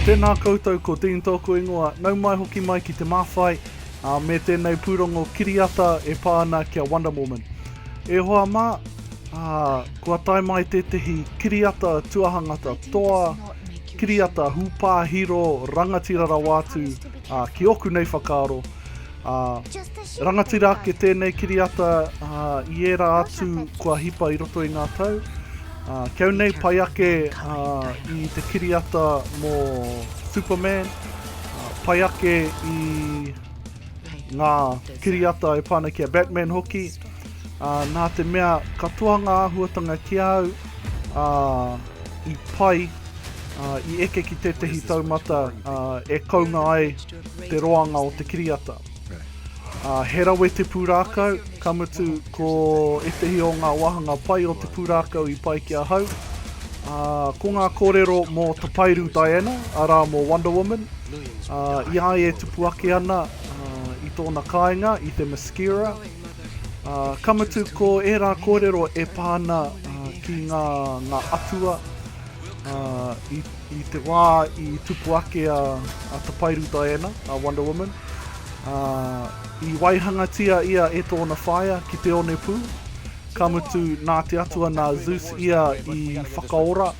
Tēnā koutou ko Dean tōku ingoa, nau mai hoki mai ki Te Māwhai, ā, me tēnei pūrongo kiriata e pā ana ki a Wonder Woman. E hoa mā, ā, kua tae mai tētehi kiriata tuahangata toa, kiriata hūpāhiro rangatira rawa atu, ā, ki ōku nei whakaaro, Ā, rangatira ake tēnei kiriata i ērā atu kua hipa i roto i ngā tau. Ā, kiau nei pai ake ā, i te kiriata mō Superman, ā, pai ake i ngā kiriata e pāna ki a Batman hoki. Ā, nā te mea katoa ngā āhuatanga ki a au, ā, i pai, ā, i eke ki tētehi taumata ā, e kounga ai te roanga o te kiriata. Ā, he rawe te pūrākau, ka mutu ko ētehi o ngā wāhanga pai o te pūrākau i pai ki ahau, ā, ko ngā kōrero mō Tapairu Diana, arā, mō Wonder Woman, ā, i a ia e tupu ake ana, ā, i tōna kāinga, i te Mascara, ā, ka mutu ko ērā kōrero e pā ana, ā, ki ngā, ngā atua, ā, i. I te wā i tupu ake a Tapairu Diana, a Wonder Woman, i waihangatia ia e tōna whaea ki te onepū, ka mutu nā te atua nā Zeus ia i whakaora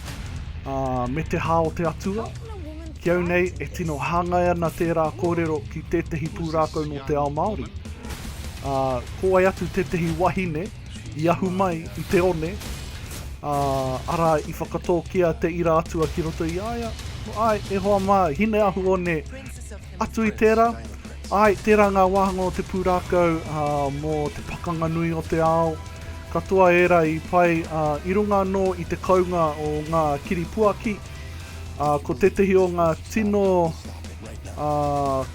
me te hā o te atua. Ki au nei, e tino hāngai ana tērā kōrero ki tētehi pūrākau nō te ao Māori. Ko wai atu tētehi wahine, i ahu mai i te one, ā, arā, i whakatōkia te ira atua ki roto i a ia, Āe, e hoa mā, Hine-ahu-one, atu i tērā, āe, tērā ngā wāhanga o te pūrākau ā, mō te pakanga nui o te ao, katoa ērā i pai, ā, i runga anō i te kounga o ngā kiripuaki, ā, ko tētehi o ngā tino, ā,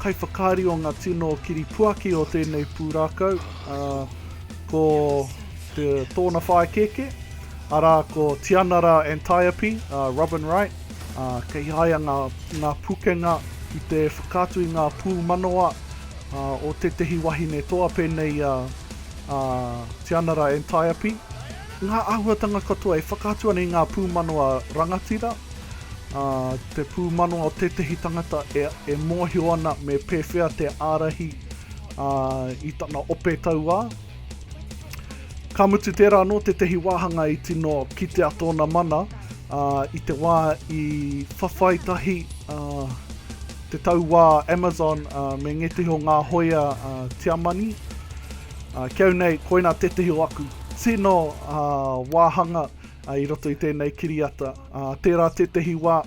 kaiwhakaari o ngā tino kiripuaki o tēnei pūrākau, ā, ko te, tōna whaikēkē, arā ko Tianara Antiope, a uh, Robin Wright, a uh, kei haia ngā, ngā pukenga ki te whakaatu i ngā pūmanawa a, uh, o tētehi wahine toa pēnei a, a Tianara Antiope. Ngā āhuatanga katoa e whakaatu ana i ngā pūmanawa rangatira, a, te pūmanawa o tētehi tangata e, e mōhio ana me pēwhea te ārahi Ā, i tana ope tauā, ka mutu tērā anō tētehi wāhanga i tino kitea tōna mana, ā, i te wā i whawhai tahi, ā, te tauā Amazon, ā, me ngētehi o ngā hōia, ā, Tiamani. Ā, ki au nei, koinā tētehi o aku tino, ā, wāhanga, ā, i roto i tēnei kiriata. Ā, tērā tētehi wā,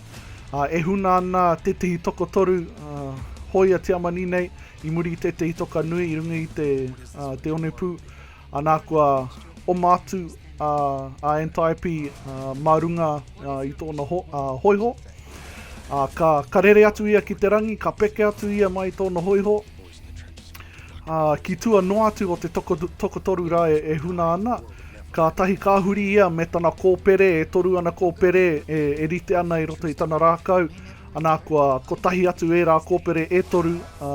ā, e huna ana tētehi tokotoru, ā, hōia Tiamani nei, I muri i tētehi toka nui i runga i te Te Onepū, anā kua oma atu a, a Antiope a, mā runga a, i tōna ho, a, hoiho. A, ka, ka rere atu ia ki te rangi, ka peke atu ia mai i tōna hoiho. A, ki tua noa atu o te toko, tokotoru rā e, e huna ana, kātahi ka huri ia me tana kōpere, e toru ana kōpere e, e rite ana i roto i tana rākau, Ana kua kotahi atu ērā kōpere e toru, ā,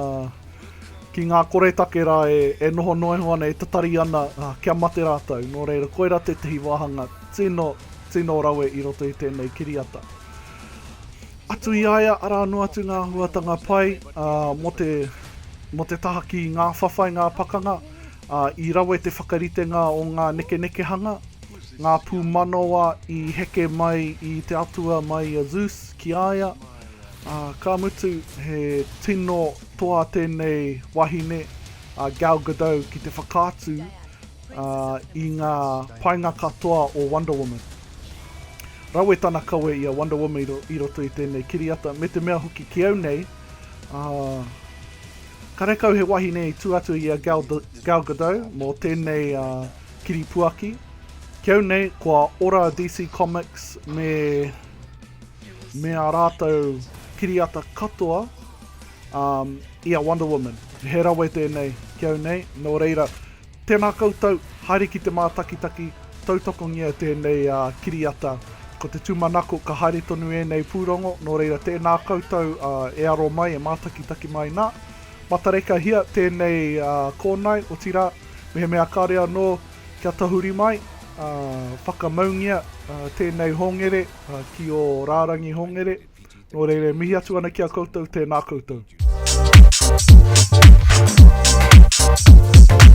ki ngā koretake rā e, e noho noa iho ana, e tatari ana, ā, kia mate rātou. Nō reira, koirā tētahi wāhanga tino, tino rawe i roto i tēnei kiriata. Atu i a ia, arā noa atu ngā āhuatanga pai, ā, mō te, mō te taha ki ngā whawhai, ngā pakanga, ā, i rawe te whakaritenga o ngā nekenekehanga, ngā pūmanawa i heke mai i te atua mai i a Zeus, Ki a ia, ā, ka mutu, he tino toa tēnei wahine, a Gal Gadot, ki te whakaatu, ā, i ngā painga katoa o Wonder Woman. Rawe tana kawe i a Wonder Woman i roto i tēnei kiriata, me te mea hoki ki au nei, ā, karekau he wahine i tū atu i a Gal, Gal Gadot mō tēnei, ā, kiripuaki. Ki au nei, kua ora DC Comics me me ā rātou kiriata katoa um, i a Wonder Woman. He rawe tēnei ki au nei, nō reira, tēnā koutou, haere ki te mātakitaki, tautakongia tēnei uh, kiriata. Ko te tūmanako, ka haere tonu ēnei pūrongo, nō reira, tēnā koutou uh, e aro mai, e mātakitaki mai nā. Matarekahia tēnei uh, kōnae, otirā, mehemea kāre anō, Kia tahuri mai, whakamaungia tēnei hongere ki ō rārangi hongere. Nō reira, mihi atu ana ki a koutou, tēnā koutou.